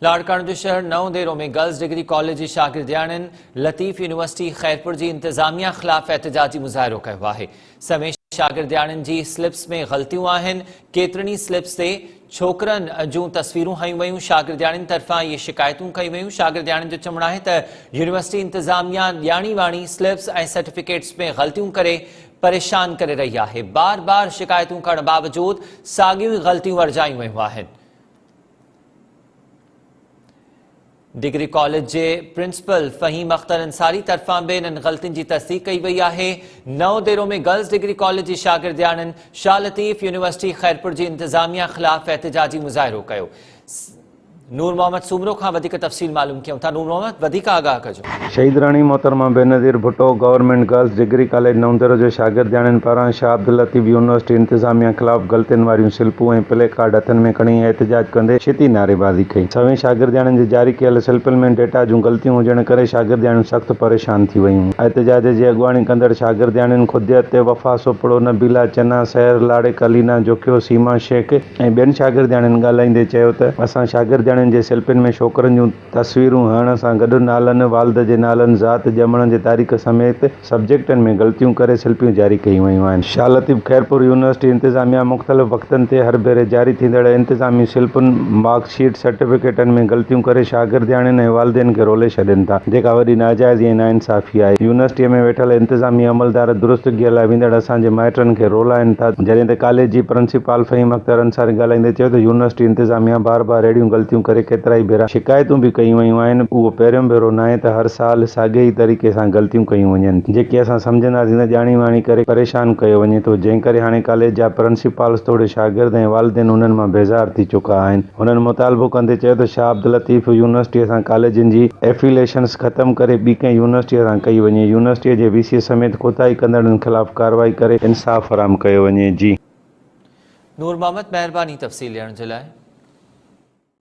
لاڙڪاڻو جي شهر Naudero ۾ girls degree college جي شاگردياڻين لطيف يونيورسٽي خيرپور جي انتظاميه خلاف احتجاجي مظاهرو ڪيو آهي سوين شاگردياڻين جي سلپس ۾ غلطيون آهن ڪيترن ئي سلپس تي ڇوڪرن جون تصويرون هنيون ويون شاگردياڻين طرفان اهي شڪايتون ڪيون ويون شاگردياڻين جو چوڻ آهي ته يونيورسٽي انتظاميه ڄاڻي واڻي سلپس ۽ سرٽيفڪيٽس ۾ غلطيون ڪري پريشان ڪري رهي آهي بار بار شڪايتون ڪرڻ باوجود ساڳيون ئي غلطيون ورجايون ويون آهن ڊگري ڪاليج جي پرنسپل فهيم اختر انصاري طرفان به انهن غلطين جي تصديق ڪئي وئي آهي Naudero ۾ girls degree college جي شاگردياڻين شاهه لطيف يونيورسٽي خيرپور جي انتظاميا خلاف احتجاجي مظاهرو ڪيو نور محمد سومرو کان وڌيڪ تفصيل معلوم ڪيون ٿا نور محمد وڌيڪ آگاهه ڪجو شهيدراڻي محترمه Benazir Bhutto government girls degree college Naudero جي شاگردياڻين پاران شاهه عبداللطيف يونيورسٽي انتظاميا خلاف غلطين واريون سلپون ۽ پلي ڪارڊ هٿن ۾ کڻي احتجاج ڪندي شديد نعريبازي ڪئي سوين شاگردياڻين جي جاري ڪيل سلپن ۾ ڊيٽا جون غلطيون هجڻ ڪري شاگردياڻيون سخت پريشان ٿي ويون احتجاج جي اڳواڻي ڪندڙ شاگردياڻين خديت تي وفا سوپڙو نبيلا چنا سحر لاڙڪ علينا جوکيو سيما شيخ ۽ ٻين شاگردياڻين ڳالهائيندي چيو ته اسان شاگردياڻين جي سلپن ۾ ڇوڪرن جون تصويرون هڻڻ سان گڏ نالن، والد جي نالن، ذات، ڄمڻ جي تاريخ سميت سبجيڪٽن ۾ غلطيون ڪري سلپيون جاري ڪيون ويون آهن. شاهه لطيف خيرپور يونيورسٽي انتظاميا مختلف وقتن تي هر ڀيري جاري ٿيندڙ انتظامي سلپن، مارڪ شيٽ، سرٽيفڪيٽن ۾ غلطيون ڪري شاگردياڻين ۽ والدين کي رولي ڇڏين ٿا، جيڪا وڏي ناجائزي ۽ ناانصافي آهي. يونيورسٽيء ۾ ويٺل انتظامي عملدار درستگيء لاء ويندڙ اسان جي مائٽن کي رولائن ٿا، جڏهن ته ڪاليج جي پرنسپال فهيم اختر، اختر انصاري ڳالهائيندي چيو ته يونيورسٽي انتظاميا بار بار اهڙيون غلطيون ڪري ڪيترائي ڀيرا شڪايتون به ڪيون ويون آهن اهو پهريون ڀيرو ناهي ته هر سال ساڳئي ئي طريقي سان غلطيون ڪيون وڃن ٿيون جيڪي اسان سمجهنداسين ته ڄاڻي واڻي ڪري پريشان ڪيو وڃي ٿو جنهن ڪري هاڻي ڪاليج جا پرنسپالز توڙي شاگرد ۽ والدين انهن مان بيزار ٿي چڪا آهن هنن مطالبو ڪندي چيو ته شاهه عبداللطيف يونيورسٽي سان ڪاليجن جي ائفيليشنز ختم ڪري ٻي ڪنهن يونيورسٽي سان ڪئي وڃي يونيورسٽي جي وي سي سميت ڪوتاهي ڪندڙن خلاف ڪارروائي ڪري انصاف فراهم ڪيو وڃي جي. نور محمد مهرباني تفصيل ڏيڻ جي لاء.